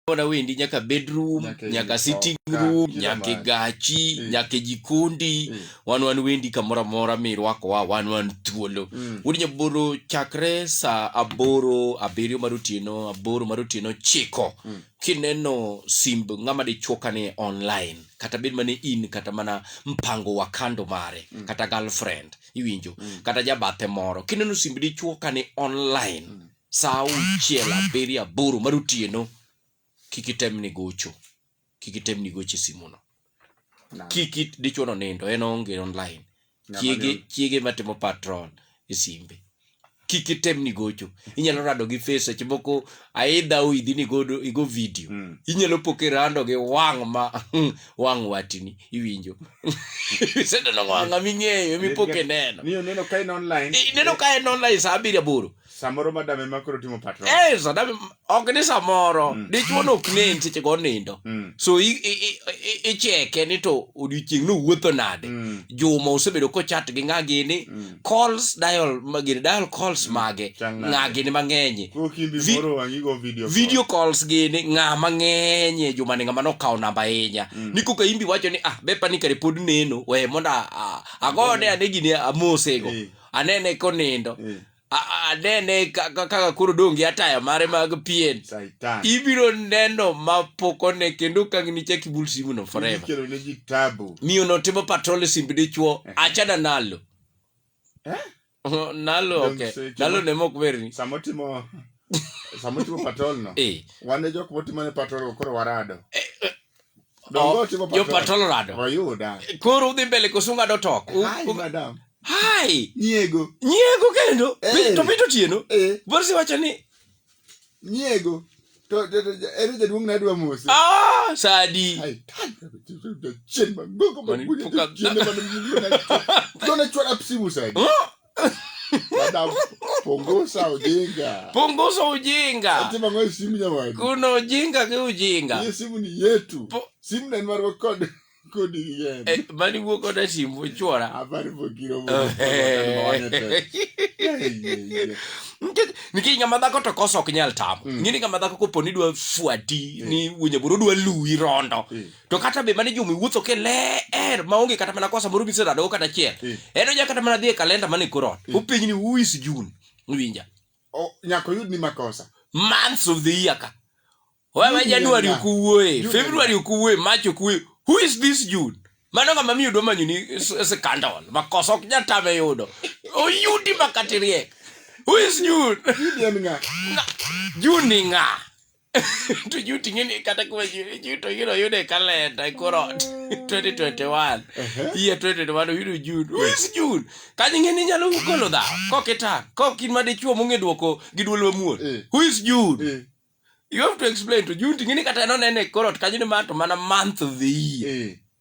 Ona wendi nyaka bedroom, nyaka, nyaka sitting room, nyaka gachi, mm. nyaka jikondi, mm. wan wan wendi kamora mora mi rwako wa wan wan thuolo. Mm. Wodi nyaboro chakre sa aboro, abirio mar otieno, aboro mar otieno chiko. Mm. Kineno simb ng'ama de choka ni online, kata bed mane in, kata mana mpango wa kando mare, mm. kata girlfriend, iwinjo, mm. kata jabathe moro. Kineno simb di choka ni online, mm. sa auchiel abiriyo aboro mar otieno kik item ni gocho kik item ni gocho e simuno kik dichuono nindo en onge online chiege chiege matimo patrol e simbe kik item ni gocho inyalo rado gi face seche moko aidha oidhi ni godo igo video mm. inyalo po kirando gi wang ma wang watini iwinjo iseneno wanga ming'eyo mipo kineno ineno ka en online saa abiriyo aboro samoro madame ma koro timo patro eh sadame ok ni samoro Mm. dichwo no ok nen seche go nindo Mm, so i- i- i- i- icheke ni to odiochieng' no wuotho nade mm, juma osebedo kochat gi ng'a gini mm. calls dial ma- gini dial calls mage Chang' nade. ng'a gini mang'enye Koro kimbi Vi- moro wang'i go video call. video calls gini ng'a mang'eny e jumani ng'ama nokawo namba ahinya Mm. ni koka imbi wacho ni ah bepa ni kare pod neno we mondo a- a- agone ane gini amosego Eh. anene konindo eh. anene kaka koro dong' gi ataya mare mag pien ibiro neno ma pok one kendo kang' nichak ibul simuno forever miyo no timo patrol e simb dichuo eh. achana nalo eh? nalo okay nalo ne mok berni samo timo samo timo patrol no eh. wane jok motimo ne patrol koro warado jo patolorado koro udhi mbele koso ung'ado tok hai nyiego nyiego kendo eh. to pito tieno eh. borsi wacho ni nyiego to ere jaduong' ne adwa mose ah, sadi chien magogo magunyachien manmgona chwara simu sadi Madam, punguza ujinga. Punguza ujinga. Ati mangwe simu jamani. Kuna ujinga ki ujinga. Hii simu ni yetu. Po... Simu na nwarwa kodi. Kodi yenu. Eh, mani wuo koda simu chora. Habari vokiro wuo. Nikech ng'ama dhako to koso ok nyal tamo. Mm. Ng'ini ng'ama dhako koponi dwa fuati. Mm. Ni wuonye buru dwa luwi rondo. Mm. to kata be mane juma iwuotho ke ler maonge kata mana kosa moro miseradogo kata achiel eh. en onya kata mana dhi e kalenda mane korot eh. openj ni uis june winja nyaka oyud ni makosa months of the year ka wewe januari ukuwuoye february ukuwuoye march ukuwuoye who is this june mano ngama mi yudo manyuni sikandon makosa ok nyatame yudo oyudi makatiriek who is june june ni ng'a to juu ting'e ni kata kuma juu to ing'e noyude e kalenda e kor ot 2021 year 2021 oyudo jun who is jun kanyo ing'e ni nyalo golo dha kok itang kok in ma dichuo mong'e dwoko gi dwol mamuol Eh. who is jun Eh, you have to explain to jun ting'e ni kata nonene e kor ot kanyo ni ma to mana month of the year eh,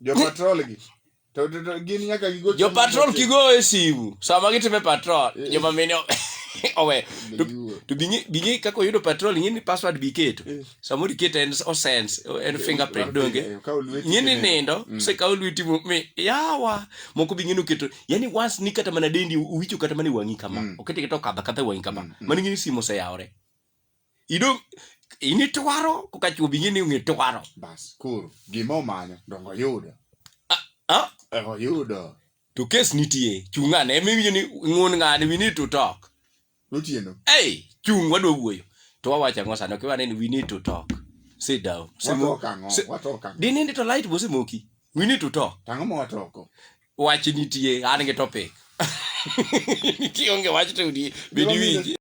Jo patrol gi. To to- to gin nyaka gigo jo patrol kigoyo e simu sama gitime patrol joma mine o- owe To- Gigo. to bing'e bing'e kaka oyudo patrol ing'e ni password biketo Eh. samoro iketo en osense en fingerprint donge Eh, kawo lweti ing'e ni kineno. nindo sekawo lweti mo- mi yawa moko bing'e noketo yani once ni kata mana dendi uwicho kata mana e wang'i kama okete kata okadha kata e wang'i kama mano ing'e ni simu oseyawore ido ini twaro koka chwo bing'e ni ong'e twaro bas koro gima omanyo dongo yudo ah? dongo yudo to kes nitie chung' ane ema iwinjo ni ng'un ng'ani we need to talk notieno ei chung' wadwa wuoyo to wawacho ang'o sani okiwa neni we need to talk sit down watok ang'o si- watok ang'o dinindi to light bosemoki we need to talk tang'o ma watoko wach nitie an gi topic kionge wach to di bedi winji